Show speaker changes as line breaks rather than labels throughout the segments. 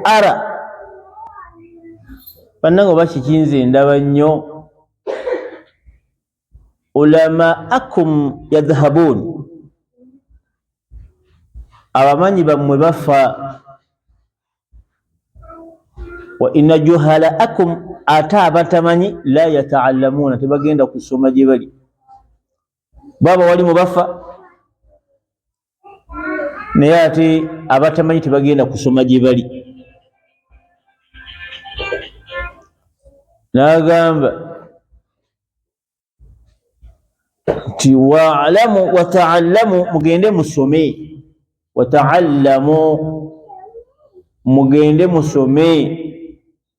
ara bannange oba kikinze ndaba nnyo ulamaakum yadhhabuun abamanyi bammwe bafa wa ina juhalaakum ate abatamanyi la yataallamuuna tebagenda kusoma gye bali baba wali mu bafa naye ate abatamanyi tebagenda kusoma gye bali n'agamba nti waalamu wataallamu mugende musome wataallamu mugende musome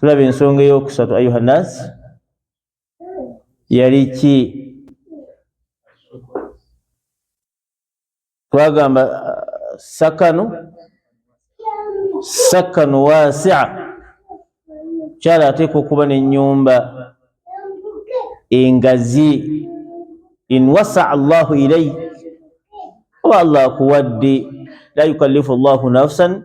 tulaba ensonga eyokusatu ayuha nas yali ki twagamba uh, sakanu sakanu wasia kyala ateeka okuba nenyumba engazi in wasa allahu ilaik oba allah akuwadde la yukallifu llahu nafsan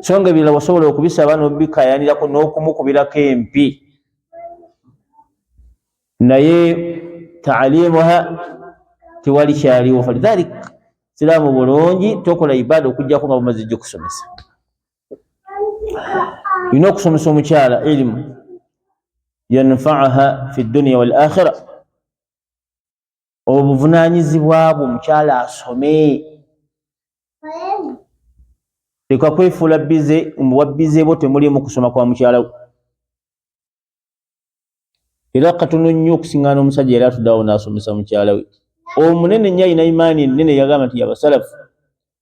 so nga ebirala wasobola okubisaba nobikayanirako n'okumukubirako empi naye taalimuha tewali kyaliwo falidhalik siraamu bulungi tokola ibaada okujjako nga bumaze jja okusomesa olina okusomesa omukyala ilimu yanfaaha fi dduniya wal akhira obuvunanyizibwa bwo mukyala asome leka kwefuula bize muwabbize bwo temulimu kusoma kwa mukyala wo era katono nnyo okusiŋana omusajja era atuddawo n'asomesa mukyala we omunene nnyo alina imaani ennene yagamba nti yabasalafu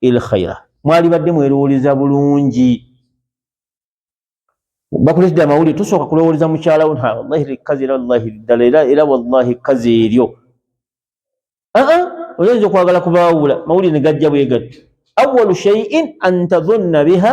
il khaira mwali badde mwerowoleza bulungi bakuletedde amawulire tusooka kulowoleza mukyala wo wallahi likazi era wallahi ddala era era wallahi kazi eryo aa oyinza okwagala kubaawula mawulire ne gajja bwe gatti awalu shaiin an tadhunna biha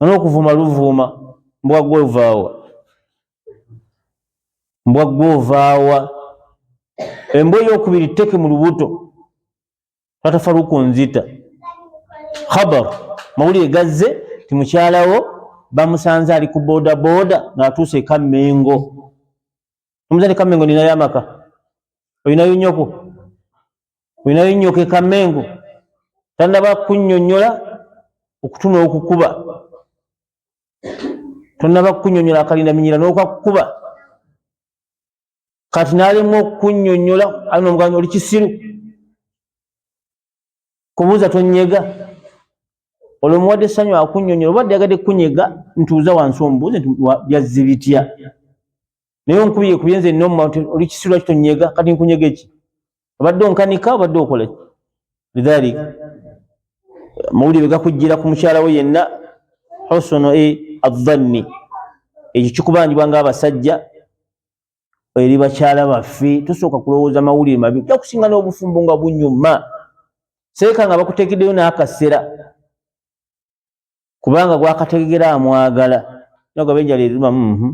Ono okuvuma luvuuma mbwa gwe ovaawa mbwa gwe ovaawa embwa eyokubiri teke mu lubuto tatafaluku nzita khabar mawulire gazze ti mukyalawo bamusanze ali ku boda boda ng'atuuse ekammengo omuzadde kamengo ninayo amaka olinayo nyoko olinayo nyoko ekamengo tanaba kunyonyola okutuma okukuba tonaba kunyonyola akalinda minyira nokakukuba kati nalemu okunyonyola alina omuganda oli kisiru kubuuza tonyega olwo muwadde essanyu akunyonyola oba dyagadde kunyega ntuuza wansi omubuuzi nti byazzi bitya naye onkubye kubye nze noma oli kisirwa kitonyega kati nkunyega eki obadde onkanika obadde okola lidhalika mawulire gakujjira ku mukyala we yenna hosono e adhanni ekyo kikubanjibwa ngaabasajja eri bakyala baffe tusooka kulowooza mawulire mabi ojja kusinga n'obufumbo nga bunyuma seeka nga bakuteekeddeyo n'akasera kubanga gwakategera amwagala nagaba enjala eruma mhm.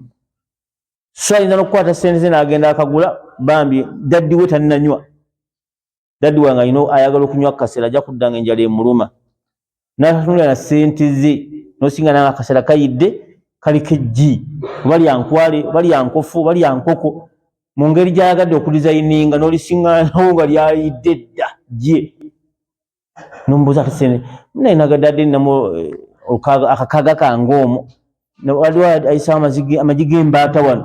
so ayinza n'okukwata sente ze n'agenda akagula bambi daddiwe tannanywa dadi wange alina ayagala okunywa kasera ajja kudda nga enjala emuluma natunula na sente ze nosinga nanga kasera kayidde kaliko ejji oba lyankwale oba lyankofu oba lyankoko mu ngeri gyayagadde okudizayininga nolisinganawo nga lyayidde dda gye nombuuza kasene naye nagadade namu eh, akakaga kange omu waliwo ayisawo amagi gembaata wano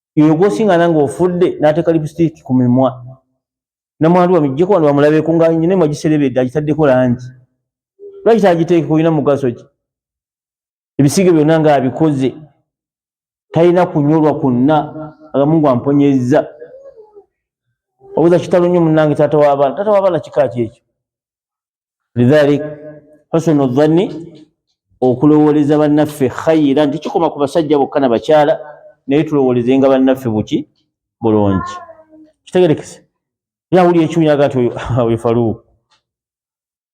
yoyo gwosinga nange ofudde nateka lipstick ku mimwa namwandu bamijjeko wano bamulabeko nga nyina emu agiserebedde agitaddeko langi lwaki tagiteekeko olina mugaso ki ebisiige byonna nga abikoze talina kunyolwa kwonna agamungu amponyezza obuza kitalo nnyo munange taata w'abaana taata w'abaana kika ki ekyo lidhalik husunu dhanni okulowooleza bannaffe khayira nti kikoma ku basajja bokka na bakyala naye tulowoolezenga bannaffe buki bulungi kitegerekese era awulira ekiwunya agati oyo faluuku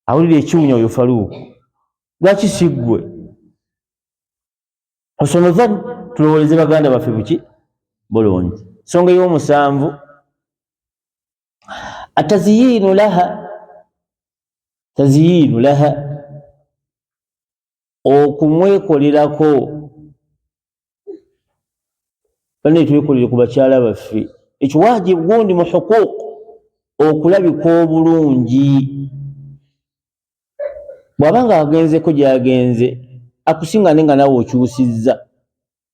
awulira ekiwunya oyo faluuku lwaki siggwe husunu dhanni tulowooleze baganda baffe buki bulungi songa ey'omusanvu ataziyinu laha taziyinu laha okumwekolerako bane twekolere ku bakyala baffe ekyo wajibu gundi mu huquuq okulabika obulungi bwaba nga agenzeko gyagenze akusinga ne nga nawe okyusizza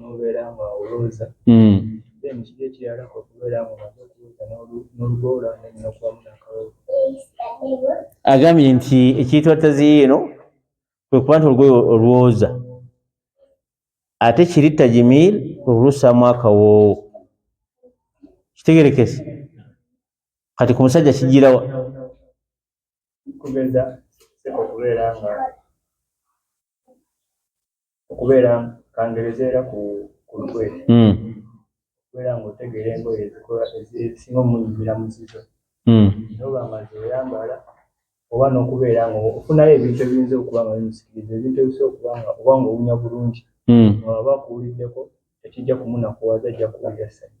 nobeera nga olooza hmm. then kiri ekirala okubeera nga omaze okulooza n'olugoola nenokubamu nakawoo agambye nti ekiyitibwa taziyi eno kwe kuba nti olugoye olwoza ate kiri tajimir kwe kulusaamu akawoowo kitegerekese kati ku musajja kijirawa kubeza okubeera nga
okubeera kangereza era ku lukwe hmm. okubeera nga otegeera engoye ezisinga omunyumira mu zizo hmm. noba nga zoyambala oba n'okubeera nga ofunayo ebintu ebiyinza okuba nga bimusikiriza ebintu ebisobola okuba nga oba nga owunya bulungi hmm. nga waba akuwuliddeko tekijja kumunakuwaza ajja kuwulira ssanyu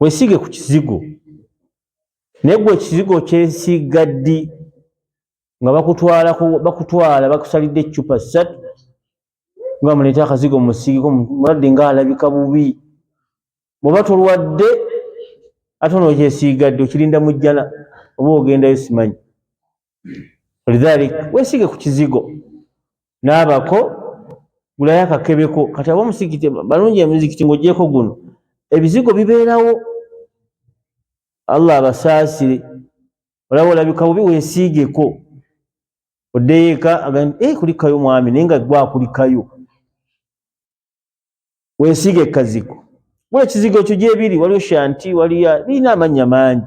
wesiige ku kizigo naye gwe ekizigo kyesiiga ddi nga bakutwala bakutwala bakusalidde eccupa ssatu nga muleeta akazigo musiigeko mulwadde nga alabika bubi bweoba tolwadde ate onookyesiiga ddi okirinda mujjana oba ogendayo simanyi lidhalik wesige ku kizigo n'abako gulayo akakebeko kati aba omusigiti balungi emizikiti ng'ogyeko guno ebizigo bibeerawo allah abasaasire olaba olabika bubi wesiigeko oddeyo eka agamba e eh, kulikayo mwami naye nga gwakulikayo wesiige ekazigo gula ekizigo ekyo gyebiri waliyo shanti waliyo birina amannya mangi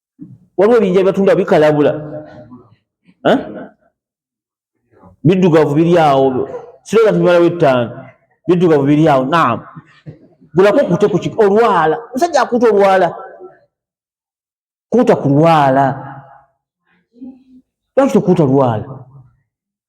waliwo ebinja bibatunda bikalabula biddugavu biri awo siraba nti bimalawo ettaano biddugavu biri awo naam gulako kute ku olwala musajja akuuta olwala kuuta ku lwala lwaki tokuuta lwala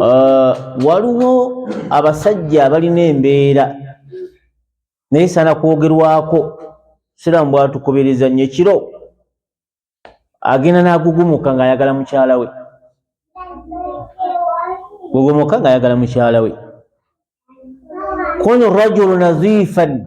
uh, waliwo abasajja abalina embeera naye sana kwogerwako siramu bwatukubiriza nnyo ekiro agenda n'agugumuka ng'ayagala mukyala we gugumuka ng'ayagala mukyala we kun rajulu naziifan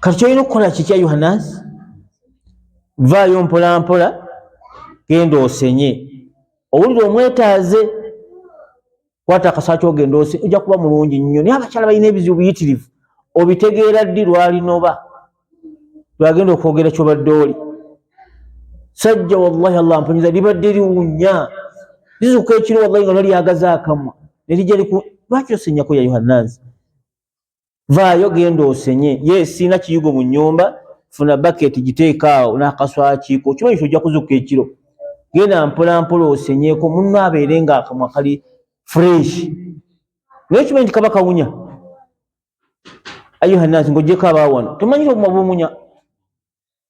kati kyolina okukola kikya yohanasi vaayo mpolampola genda osenye owulire omwetaaze kwata akasaa kyogenda ose ojja kuba mulungi nnyo naye abakyala balina ebizibu biyitirivu obitegeera ddi lwalinoba lwagenda okwogera kyobadde oli sajja wallahi allah mpunyiza libadde liwunya lizuka ekiro wallahi nga nolyagaza akamwa nelija liku lwaki osenyako ya yohanansi vaayo genda osenye ye siina kiyigo mu nyumba funa baketi giteekaawo n'akaswakiiko okimanyi ti ojja kuzuka ekiro genda mpolampola osenyeeko munno abeere nga akamwa kali fresh naye okimanyi nti kaba kawunya ayuhanasi ngaogyeko abaawano tomanyi ti obuma bumunya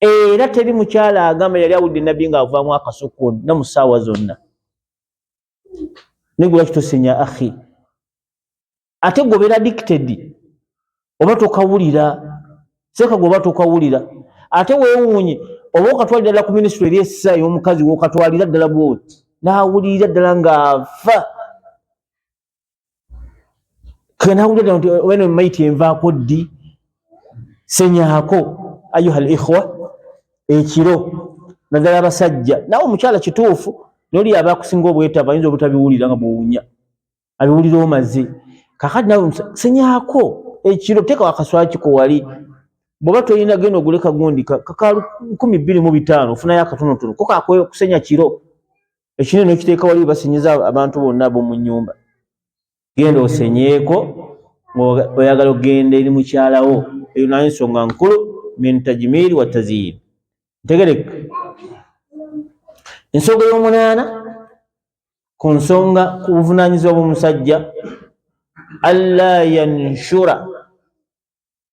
era teri mukyala agamba yali awudde nabbi nga avaamu akasukun ne mu ssaawa zonna naye gwe lwaki tosinya ahi ate gobera dicted oba tokawulira seeka gwe oba tokawulira ate weewuunye oba okatwalira ddala ku minisitule eri essa ey'omukazi wokatwalira ddala bwoti n'awulirira ddala ng'afa kanakuta nti wena mayiti envaako ddi senyaako ayuha al ikhwa ekiro naddala abasajja nawe omukyala kituufu noli aba akusinga obwetava ayinza obutabiwulira nga buwunya abiwulira omaze kakati nawe senyaako ekiro teekawo akaswakiko wali bwoba tolina genda ogule kagundi kaka nkumi bbiri mu bitaano ofunayo akatonotono ko kakusenya kiro ekine nokiteeka wali basinyiza abantu bonna bomu nyumba genda osenyeeko oyagala okugenda eri mukyalawo eyo naye ensonga nkulu min tajmiiri wa taziyin ntegereka ensonga y'omunaana ku nsonga ku buvunaanyizibwa bw'omusajja alla yanshura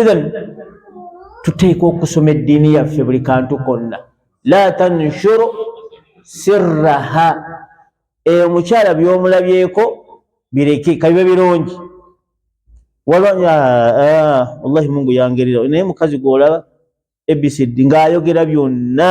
ithan tuteeka okusoma eddiini yaffe buli kantu konna la tanshuru sirraha eyo omukyala byomulabyeko bireke kabibe birungi walwanya ah, wallahi mungu yangerera naye mukazi gwolaba abcd ngaayogera byonna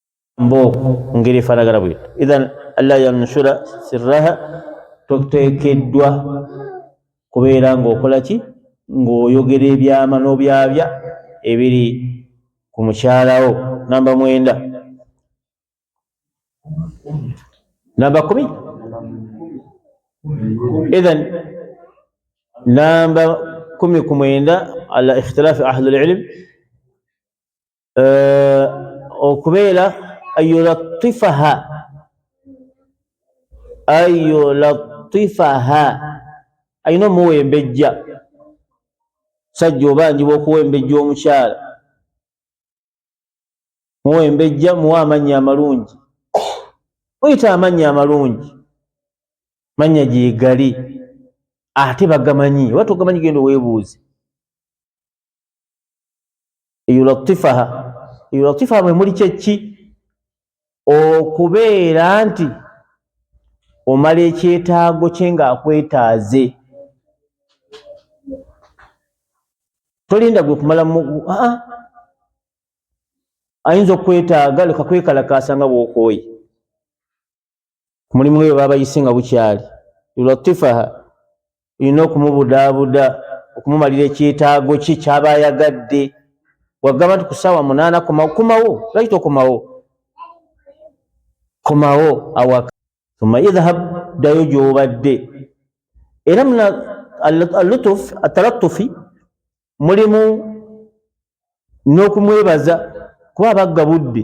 mbo ngeri efaanagana bwe ithan alla yanshura sirraha toteekeddwa kubeera ng'okola ki ng'oyogera ebyama n'obyabya ebiri ku mukyalawo namba mwenda namba kumi ithan namba kumi ku mwenda ala ikhtilaafi ahlulilimi eh, okubeera ayulatifaha ayulatifaha alina omuwembejja sajja obanjibwa okuwembejja omukyala muwembejja muwa amannya amalungi muyita amannya amalungi mannya gyegali ate bagamanyi oba togamanyi genda owebuuzi yulatifaha yulatifaha mwe muli kyekki okubeera nti omala ekyetaago kye ng'akwetaaze tolinda gwe kumala aa ayinza okukwetaaga leka kwekalakaasa nga bw'okooye omulimu eyo babayise nga bukyali yulatifaha olina okumubudaabuda okumumalira ekyetaago ki kyaba ayagadde wagamba nti kusaawa munaana komawo komawo lwaki tokomawo komawo awaka uma idhab ddayo gyobadde era muna alutuf atalatufi mulimu n'okumwebaza kuba abagga budde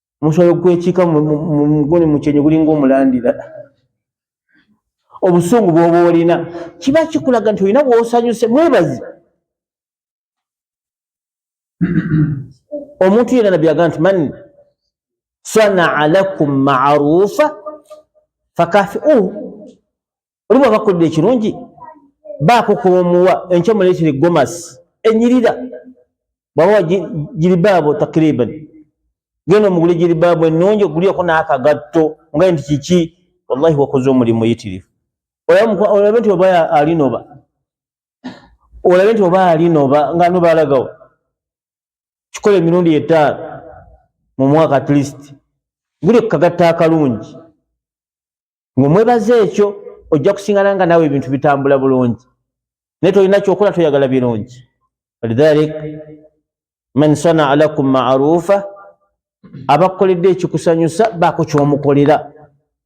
musobola okwekiika muguni mukyenyi gulinga omulandira obusungu bwoba olina kiba kikulaga nti olina bwosanyuse mwebazi omuntu yena nabbi aga nti man sanaa lakum marufa fakafiuhu oli bwaba akolera ekirungi baako kwomuwa enkya muleetere gomasi enyirira bwabawa jiribaabo takriban genda omugule jiribaabo ennungi ogulyeko n'akagatto nga nti kiki wallahi wakoze omulimu muyitirivu olabe nti oba alinoba olabe nti oba alinoba nga noba alagawo kikola emirundi etaano mu mwaka atleast guli kukagatta akalungi ng'omwebaza ekyo ojja kusingana nga naawe ebintu bitambula bulungi naye tolina kyokola toyagala birungi walidhalik man sanaa lakum maruufa abakukoledde ekikusanyusa baako kyomukolera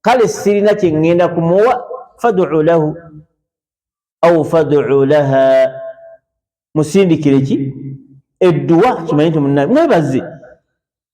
kale sirina kyeŋŋenda kumuwa faduu lahu au faduu laha musindikire ki edduwa kimanye nti munnaye mwebaze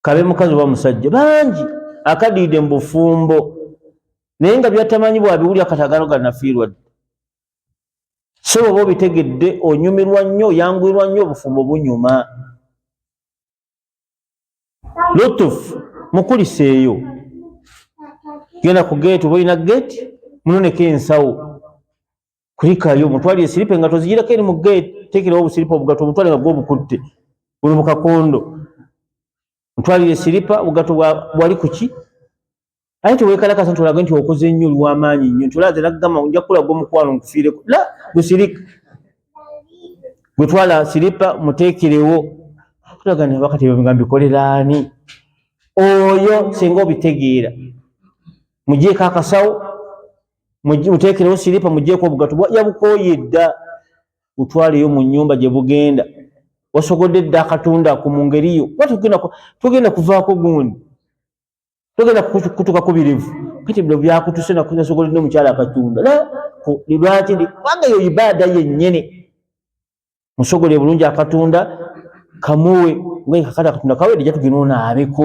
kabe mukazi oba musajja bangi akadiide mu bufumbo naye nga byatamanyi bwabiwulira katagano ganafiirwa dde so oba obitegedde onyumirwa nnyo oyanguyirwa nnyo obufumbo bunyuma lutuf mukuliseeyo genda ku geeti oba olina geeti munoneko ensawo kulikayo mutwali esiripe nga tozijirako eri mu gate tekerawo obusiripa obugato obutwale nga gwobukutte buli mu kakondo mutwalire esiripa obugato bwali kuki aye tewekalakasa nti olage nti okoze nnyo oli wamaanyi nnyo nti olaze nakugamba nja kukulaga omukwano nkufiireko la busirika gwetwala siripa muteekerewo tulaga nabakati nga mbikolera ani oyo singa obitegeera mujeeko akasawo muteekerewo siripa mugjeeko obugato yabukooye dda butwaleyo mu nyumba gye bugenda wasogodde dda akatunda ako mu ngeri yo kuba tugenda kuvaako gundi tugenda kutuka kubirivu kati bino byakutuse nasogola no omukyala akatunda lwaki kubanga yo ibaada yennyini musogole bulungi akatunda kamuwe ngakati akatunda kawedde jatugenda onaabeko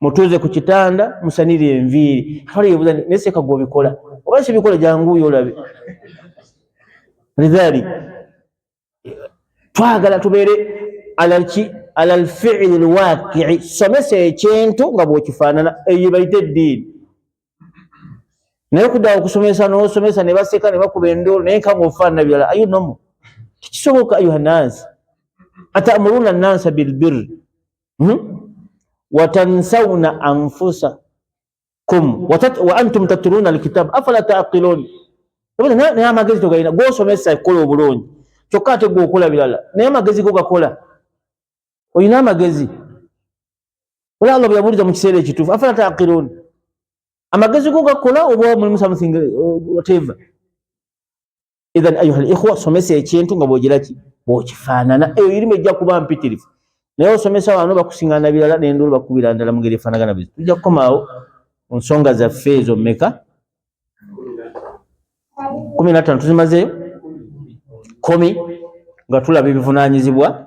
mutuuze ku kitanda musanire enviiri kale yebuza naye seeka gwobikola oba sibikola janguuyo olabe lidhali twagala tubeere alalki ala lfiili lwakii somesa ekintu nga bwekifaanana eyo bayite eddiini naye okuddawo okusomesa nosomesa ne baseka ne bakuba endoolo naye nkanga ofaanana birala ayo nomu tekisoboka ayuha nansi atamuruuna nansa bilbirri hmm? watansawuna anfusa kum wa antum tatluna alkitabu afala taqilun naye amagezi togalina gwosomesa kukola obulungi kyokka ate gwe okola birala naye amagezi go gakola olina amagezi ola allah bweyabuuliza mu kiseera ekituufu afala taqilun amagezi go gakola oba mulimu something uh, whatever idhan ayuha likhwa somesa ekintu nga bwogiraki bwokifaanana eyo irimu ejja kuba mpitirifu naye osomesa wano bakusingana birala nendolo bakubira ndala mungeri efanagana bizi tujja kukomaawo ku nsonga zaffe ezo meka kumi natano tuzimazeyo kumi nga tulaba ebivunanyizibwa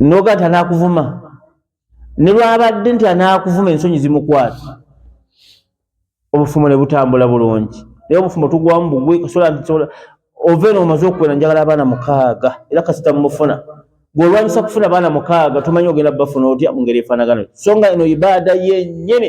noga nti anakuvuma ne lwabadde nti anakuvuma ensonyi zimukwata obufumo ne butambula bulungi naye obufumo tugwamu bugwe kasola ntisobola ova eno omaze okuwera njagala abaana mukaaga era kasita mumufuna gweolwanyisa kufuna baana mukaaga tomanyi ogenda bafuna otya mu ngeri efaanagano so nga eno ibaada yenyini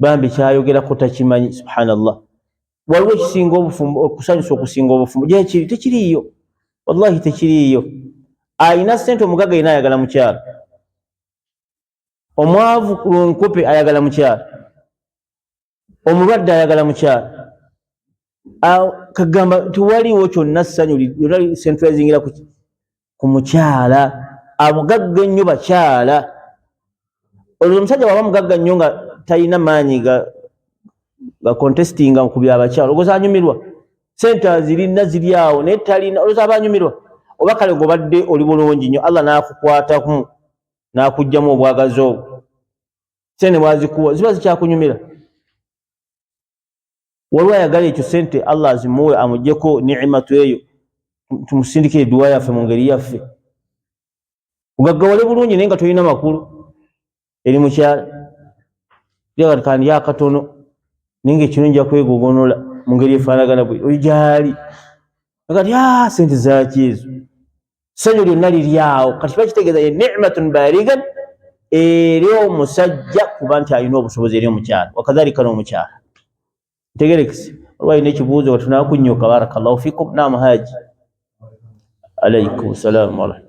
bambi kyayogerako takimanyi subhanallah waliwo ekisinga obufumbo okusanyusa okusinga obufumbo gyekiri tekiriiyo wallahi tekiriiyo alina sente omugaga yena ayagala mukyalo omwavu lunkupe ayagala mukyalo omulwadde ayagala mukyalo kagamba tewaliwo kyonna ssanyu lyona centralizingira ku mukyala amugagga ennyo bakyala olwo omusajja waba mugagga nnyo nga talina maanyi ga contestinga ku byabakyala ogoza anyumirwa sente azirina ziri awo naye talina oloza aba anyumirwa oba kale gobadde oli bulungi nnyo allah n'akukwatamu n'akugjamu obwagazi obwo sente bwazikuwa ziba zikyakunyumira waliwo ayagala ekyo sente allah azimuwe amujeko nimatu eyo tumusindika eduwa yaffe mu ngeri yaffe ugaggawale bulungi naye nga tolina makulu eri mukyala yagatandi yakatono naye nga ekino nja kwegogonola mu ngeri efaanagana bwe oyo gyali agati a ah, sente zaki ezo ssanyu lyonna liri awo kati kiba kitegeeza ye nimatun baligan eri omusajja kuba nti alina obusobozi eri omukyala wakadhalika n'omukyala ntegerekese olwa alina ekibuuzo watunakunyuka barakallahu fikum nam haji alaikum salamu warahmatulah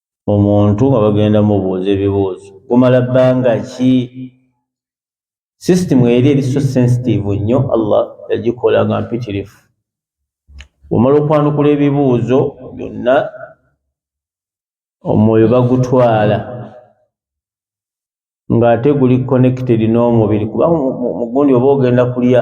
omuntu nga bagenda mubuuza ebibuuzo gumala bbanga ki system eri eri so sensitive nnyo allah yagikola nga mpitirifu omala okwanukula ebibuuzo byonna omwoyo bagutwala ng'ate guli connected n'omubiri kuba mugundi oba ogenda kulya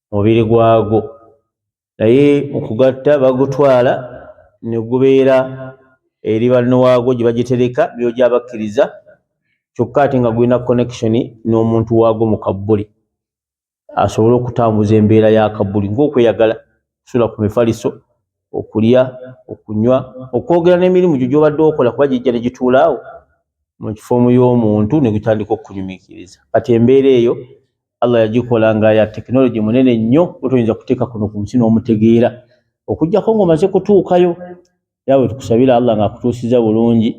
mubiri gwagwo naye mukugatta bagutwala negubeera eri banno waagwo gye bagitereka byo gyabakkiriza kyokka ate nga gulina connection n'omuntu waagwo mu kabbuli asobole okutambuza embeera ya kabbuli ng'okweyagala kusula ku mifaliso okulya okunywa okwogera n'emirimu gyo gyobadde okola kuba gijja negituulaawo mu kifoomu y'omuntu negutandika okunyumikiriza kati embeera eyo Allah yagikola nga ya technology munene nnyo otoyinza kuteeka kuno ku nsi n'omutegeera okujjako ng'omaze kutuukayo yawe tukusabira Allah ng'akutuusiza bulungi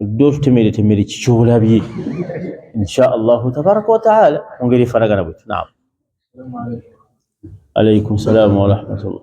odde otutemeretemere kikyolabye insha allahu tabaraka wataala mu ngeri efanagana bwetu naam alaikum salaamu warahmatullah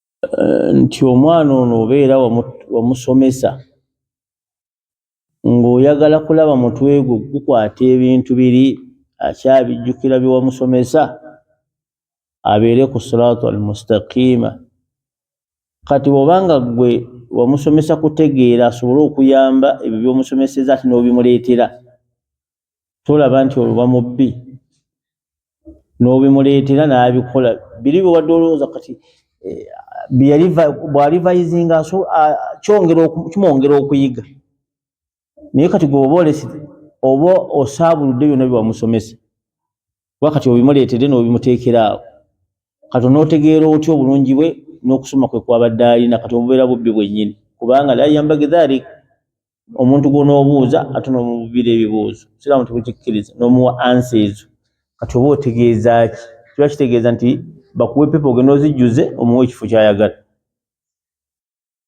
eh, nti omwana ono obeera wamusomesa ng'oyagala kulaba mutwe gwo gukwata ebintu biri akyabijjukira bye wamusomesa abeere ku siraatu almustaqiima kati bwoba nga ggwe wamusomesa kutegeera asobole okuyamba ebyo byomusomeseza ati n'obimuleetera tolaba nti oluba mubbi nobimuleetera nabikola biri byewadde olowooza kati eh, bwalivayizinga kimwongera okuyiga naye kati gwe oba olesi oba osaabuludde byonna byewamusomesa kuba kati obimuleetedde nobimuteekera awo kati onotegeera otya obulungi bwe n'okusoma kwe kwabadde alina kati obubeera bubbi bwennyini kubanga la yambage dhalik omuntu gwonoobuuza ate n'omububiira ebibuuzo siraamu tebukikkiriza n'omuwa ansa ezo kati oba otegeeza ki kiba kitegeeza nti bakuwa epepa ogenda ozijjuze omuwa ekifo kyayagala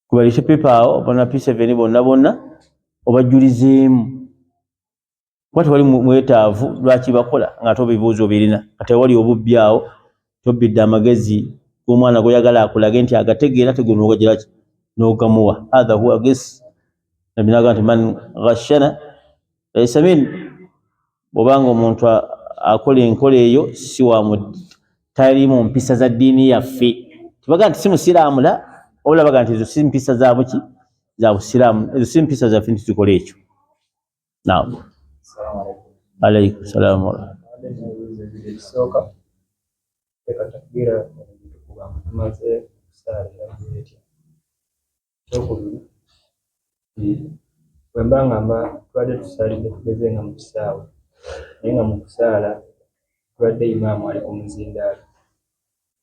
kubalise pepa awo bana p7 bonna bonna obajjulizeemu kuba tewali mwetaavu lwaki bakola nga ate obibuuza obirina nga tewali obubbi awo tobbidde amagezi gomwana goyagala akulage nti agategeera tegunogajiraki nogamuwa hatha huwa gis nabinaga nti man ghashana laisa min bwobanga omuntu akola enkola eyo siwamu tali mu mpisa za ddiini yaffe tibaga nti si musiraamu la obulabaga nti ezo si mpisa zabuki za busiraamu ezo si mpisa zaffe nti tukola ekyo Naam. Alaikum salaam warahmatullahi
bwemba nga mba tubadde tusaalidde tugeze nga mu kisaawe naye nga mu kusaala tubadde imaamu ali ku muzindaalo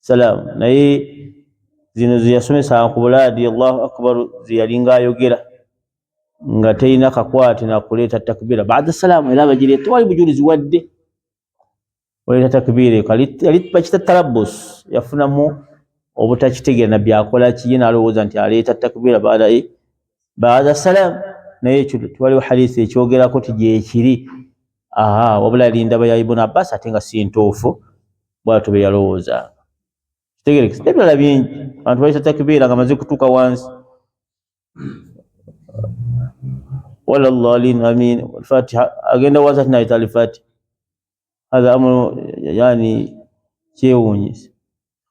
salaamu naye zino zeyasomesanga ku bulaadi allahu akbar zeyalinga ayogera nga terina kakwate nakuleeta takbiira baada salaamu era bagireeta tewali bujulizi wadde oleeta takbiira eko yali bakita talabus yafunamu obutakitegeera nabbi akola kiye nalowooza nti aleeta takbiira baada e, baada salaamu naye ekyo tewaliwo hadisi ekyogerako ti gyekiri aha wabula linda bayaibuna abbas ate nga si ntuufu bwatyo bwe yalowoozanga kitegerekese nebirala bingi abantu bayisa takibeera nga maze kutuuka wansi wala llalin amin fatiha agenda wansi ati nayita alifati hatha amuru yani kyewunyisa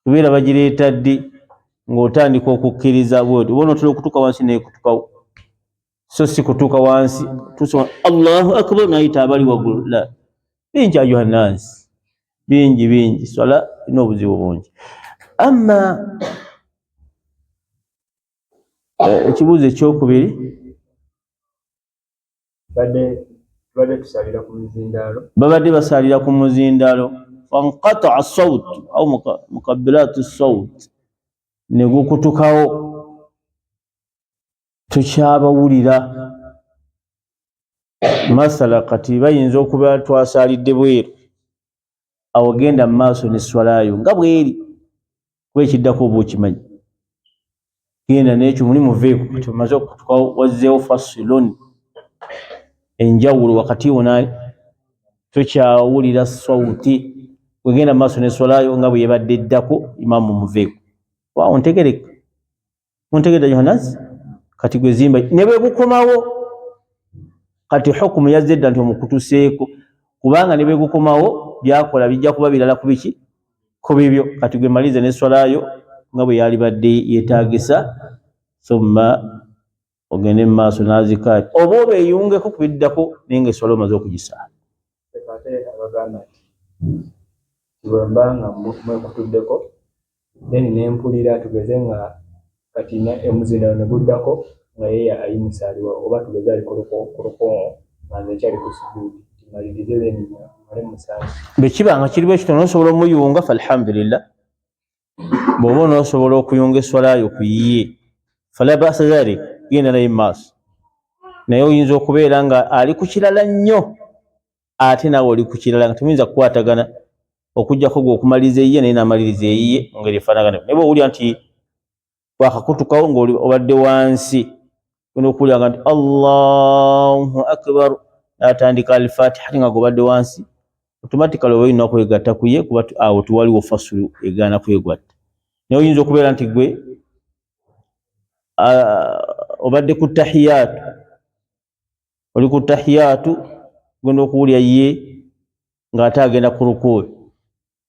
kubeera bagireeta ddi ng'otandika okukkiriza bwoti bona otera okutuuka wansi nekutukawo so si kutuuka wansi tusoma allahu akbar nayita abali waggulu la bingi ayuha nnansi bingi bingi swala erina obuzibu bungi amma eh, ekibuuzo ekyokubiri
babadde basaalira
ku muzindaalo fanqataa saut au mukabiraatu saut negukutukawo tukyabawulira masala kati bayinza okuba twasaalidde bweru awo genda mu maaso ne swalayo nga bweri kuba ekiddako oba okimanyi genda nekyo muli muveeko kati omaze okutuka wazzeewo fasilon enjawulo wakati wona tukyawulira sauti wegenda mu maaso ne swalayo nga bweyebadde eddako imamu muveeko waawo ntegereka muntegedde yohanazi kati gwe zimba ne bwe bukomawo kati hukumu yazze dda nti omukutuseeko kubanga ne bwe bukomawo byakola bijja kuba birala ku biki ku bibyo kati gwe malize ne swalayo nga bwe yalibadde yetaagisa thumma ogende mu maaso n'azikaati oba obeeyungeko ku biddako naye nga eswala omaze okugisaala
bwemba nga mwekutuddeko then nempulira tugeze nga kati emuzina ne guddako nga yeye ayimusaaliwa oba tugeze ali kulukongo nga nze ekyali ku sujuudi timalirize then male musaali bwe kiba nga kiriwo
ekitono osobola omuyunga fa alhamdulillah bwoba onosobola okuyunga eswalayo ku yiye fala basa dhalik genda naye maaso naye oyinza okubeera nga ali ku kirala nnyo ate naawe oli ku kirala nga temuyinza kukwatagana okujjako gwe okumaliriza eyiye naye namaliriza eyiye mungeri efaanagana naye bweowulira nti wakakutukawo nga obadde wansi ona okuwuliranga nti allahu akbar natandika alfatiha ate nga gobadde wansi automatically oba olina kwegatta kuye kuba awo tewaliwo fasulu egaana kwegwatta naye oyinza okubeera nti gwe obadde ku tahiyaatu oli ku tahiyaatu genda okuwulira ye ng'ate agenda ku rukuubi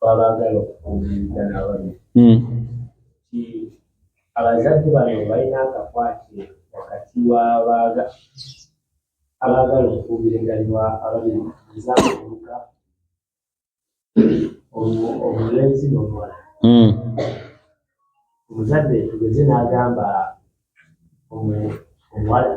babaagala okubuuliriza n'ababi hmm. nti abazadde bano balina akakwate wakati w'abaaga abaagala okubuuliranganibwa ababiri nza omuka omulenzi n'omuwala hmm. omuzadde tugeze n'agamba omuwala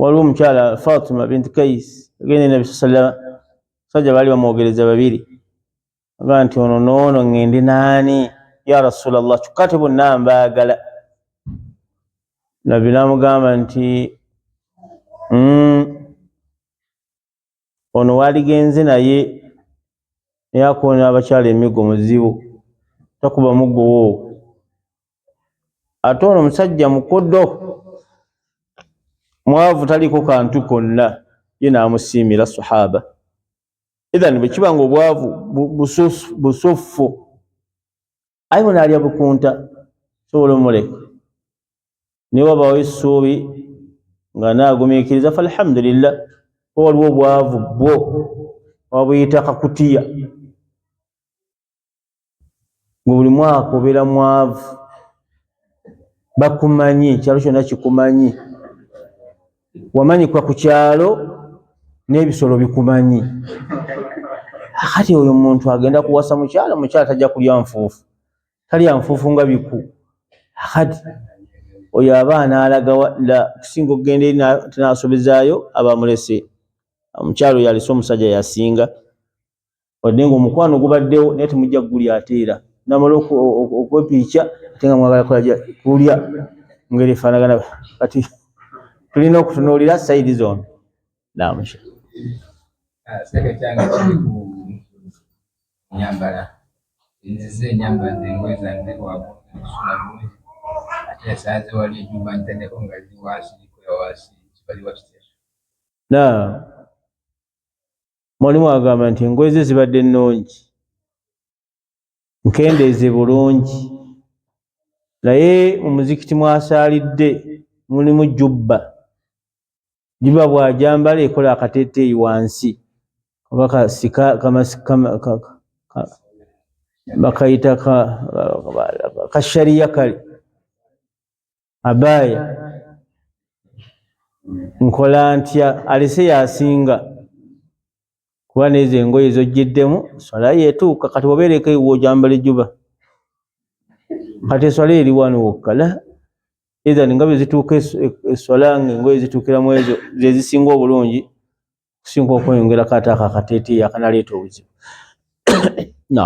waliwo omukyala fatima bintu kais agenda enabi sa sallama sajja baali bamwogereza babiri aga nti ono noono ngende naani ya rasula llah kyokka te bonna mbaagala nabbi namugamba nti mm, ono waligenze naye naye akonera abakyala emigo muzibu takuba mugowo ate ono omusajja mukodo mwavu taliko kantu konna ye namusiimira sahaba ethan bwekiba nga obwavu busuffu aye bona alya bukunta sobola omuleka naye wabawo essuubi nga naagumiikiriza fa alhamdulillah oba waliwo obwavu bwo wabuyita kakutiya nga buli mwaka obeera mwavu bakumanyi ekyalo kyonna kikumanyi wamanyikwa ku kyalo n'ebisolo bikumanyi kati oyo muntu agenda kuwasa mukyala mukyala tajja kulya nfuufu talya nfuufu nga biku kati oyo abaana alagawa la kusinga okugenda eri tinasobezaayo abamulese omukyalo yalese omusajja yasinga wadde nga omukwano gubaddewo naye temujja kugulya ate era namala okwepiica ate nga mwagala kulya ngeri efaanagana kati tulina okutunuulira sayidi zombi namusha nyambala nzize enyambala zengoye zange wakusula
bulungi ate esanze wali ejumba ntendeko nga ziri wansi zikola wansi kibali wakitya na
mwalimu agamba nti engoye ze zibadde nnungi nkendeeze bulungi naye mu muzikiti mwasaalidde mulimu jubba juba bwajambala ekola akateteeyi wansi oba kasika bakayita kashariya kale abaya nkola ntya alese yasinga kuba nezo engoye zojjeddemu swala yetuuka kati wabeereko ewo ojambala ejuba kati eswala eri wano wokka la ethan nga bwezituuka eswala nga engoye zituukira mu ezo zezisinga obulungi okusinga okweyongerako ate ako akateeteeyi akanaleeta obuzibu
na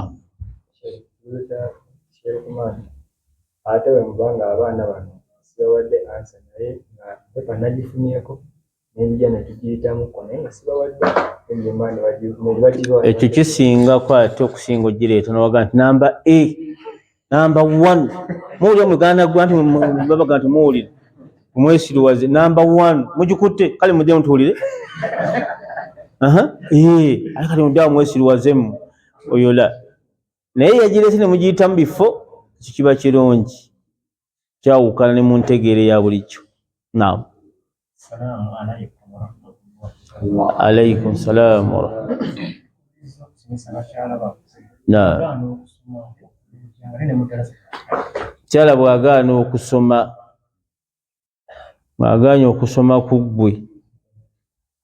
ate wemuba nga abaana bano sibawadde ansa naye nga pepa nagifunyeko nenjija netugiyitamuko naye nga sibawadde ekyo kisingako
ate okusinga ogireeta nowaga nti namba a namba one muwulira muganda gwa nti babaga nti muwulire omwesiriwaze namba one mugikutte kale mudde mutuwulire ali kati mudde awo mwesiriwazemu oyola naye yagirese ne mugiyita mu bifo ekyo kiba kirungi kyawukana ne mu ntegeere ya bulijjo naamu Assalamu alaikum warahmatullahi. Alaikum salaam warahmatullahi. Kyala bw'agaana okusoma ng'agaanye okusoma ku ggwe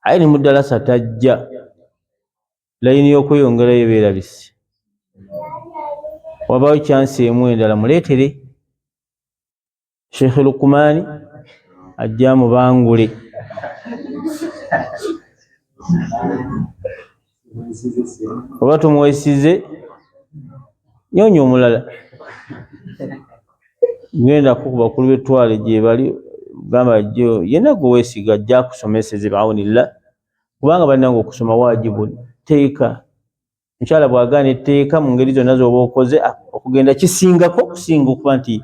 aye ne mudalasa tajja layini y'okweyongerayo beerabise wabaawo kyansi emu endala muleetere sheikh lukumani ajja mubangule oba tumwesize nyonya omulala genda kukuba kulu betwale gyebali gamba jo yena gwe wesiga ajja kusomeseze baawunilla kubanga banange okusoma wajibu teeka mukyala bwagaana etteeka mu ngeri zonna zoba okoze ah, okugenda kisingako okusinga okuba nti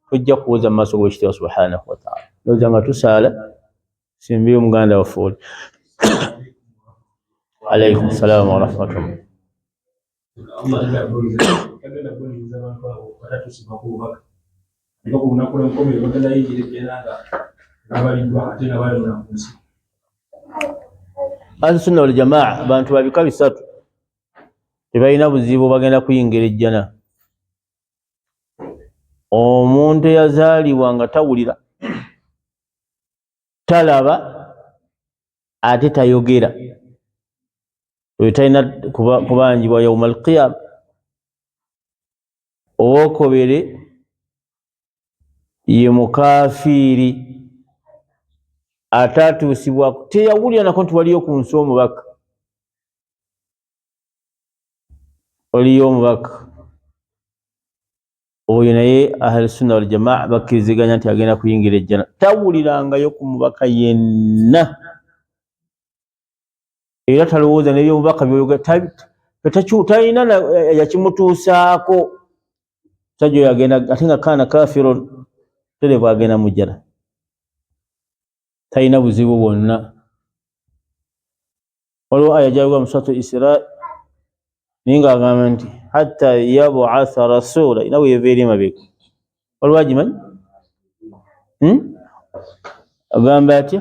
tojja kuwoza mu maaso g'ekitibwa subhanahu wataala noza nga tusaala simbire omuganda waffe oli alaikum salaamu warahmatullah Era ku lunaku lw'enkomerero bagenda yingira ejjana nga babaliddwa ate nga balona ku nsi. Ahlusunna wal Jamaa bantu ba bika bisatu tebalina buzibu bagenda kuyingira ejjana. Omuntu eyazaalibwa nga tawulira, talaba ate tayogera oyo talina kubanjibwa yauma alqiyama owokubiri ye mukafiiri ataatuusibwako teyawulira nako nti waliyo ku nsi omubaka waliyo omubaka oyo naye ahlusunna waljamaa bakkiriziganya nti agenda kuyingira ejjana tawulirangayo ku mubaka yenna era talowooza nebyobubaka byoyogatalina yakimutuusaako sajja oyo agenda ate nga kaana kafiro terevu agenda mujjana talina buzibu bwonna waliwo aya gyayogera musatu isira naye nga agamba nti hatta yabuatha rasula ina weyeva eri emabega waliwo agimanyi hmm? agamba atya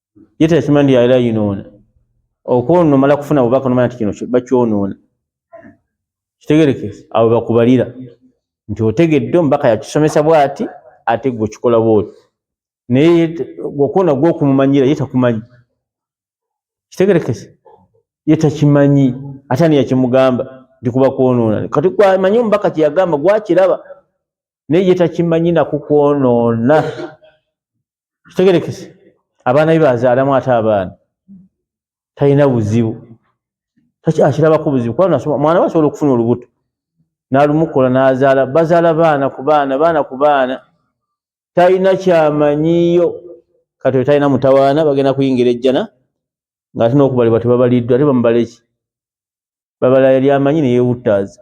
ye teyakimanyi nti yali ayinoona okwonoona omala kufuna bubaka nomanya nti kino bakyonoona kitegereke abo bakubalira nti otegedde omubaka yakisomesa bwati ate gwe okikola bwoti naye okwonoona gwe okumumanyira ye takumanyi kitegerekese ye takimanyi ate ani yakimugamba nti kuba kwonoona kati kwamanyi omubaka kyeyagamba gwakiraba naye ye takimanyi nakukwonoona kitegerekese abaana be bazaalamu ate abaana talina buzibu akirabako buzibu kuba mwana we asobola okufuna olubuto nalumukola nazaala bazaala baana ku baana baana ku baana talina kyamanyiyo kati oyo talina mutawaana bagenda kuyingira ejjana ngaate nokubalibwa tebabaliddwa ate bamubaleki babala yali amanyi neyewuttaaza